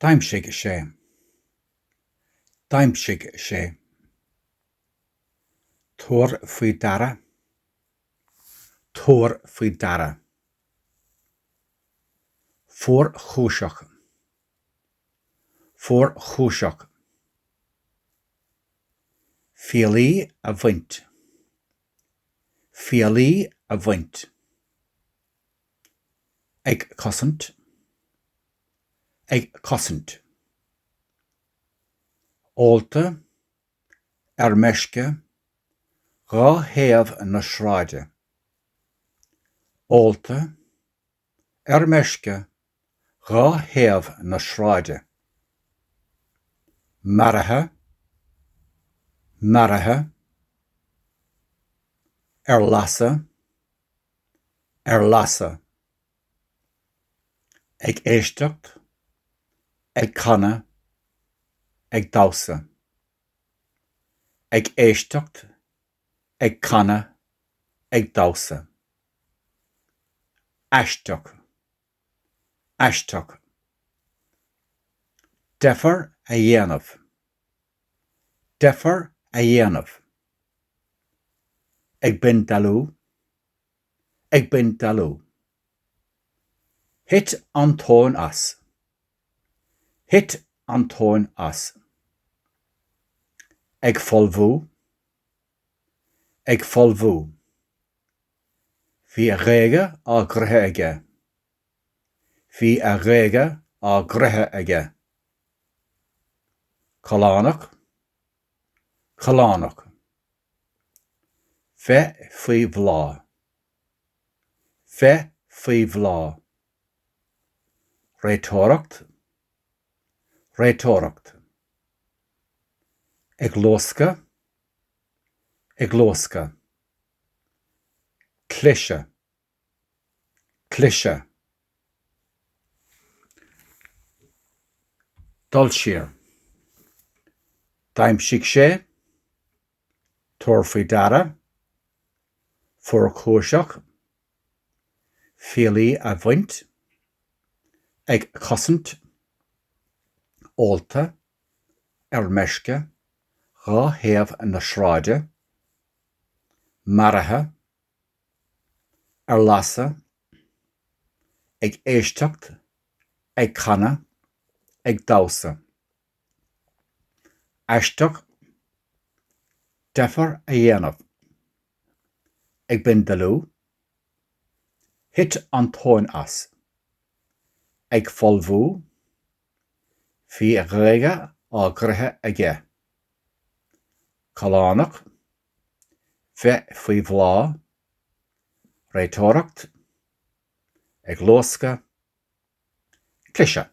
D'aimsigh sé. D'aimsigh sé. Tabhair faoi deara. Tabhair faoi deara. Fuarchúiseach. Fuarchúiseach. Fiailí a bhaint. fiailí a bhaint, ag cosaint, ag cosaint, ólta, ar meisce, dhá thaobh na sráide, ólta, ar meisce dhá thaobh na sráide. Maraithe. Maraithe. Ar lasadh. Ar lasadh. Ag éisteacht. Ag canadh. Ag damhsa. Ag éisteacht. ag canadh, ag damhsa. Aisteach. Aisteach. Deifir a dhéanamh. Deifir a dhéanamh. Ag bindealú. ag bindealú. Thit an tóin as. Thit an tóin as. Ag folmhú. Ag folmhú. Bhí a ghéaga á gcroitheadh aige. Bhí a ghéaga á gcroitheadh aige. Callánach. Callánach. Bheith faoi bhláth. Bheith faoi bhláth. Réiteoireacht. Réiteoireacht. Ag luascadh. Ag luascadh. Cliseadh. Cliseadh. Dul siar. D'aimsigh sé. Tabhair faoi deara. Fuarchúiseach. Fiailí a bhaint. Ag cosaint. Ólta. Ar meisce. Dhá thaobh na sráide. Maraithe. ar lasadh, ag éisteacht, ag canadh, ag damhsa. Aisteach, deifir a dhéanamh. Ag bindealú, thit an tóin as. Ag folmhú, bhí a ghéaga á gcroitheadh aige. Callánach, Bheith faoi bhláth, réiteoireacht, ag luascadh, cliseadh.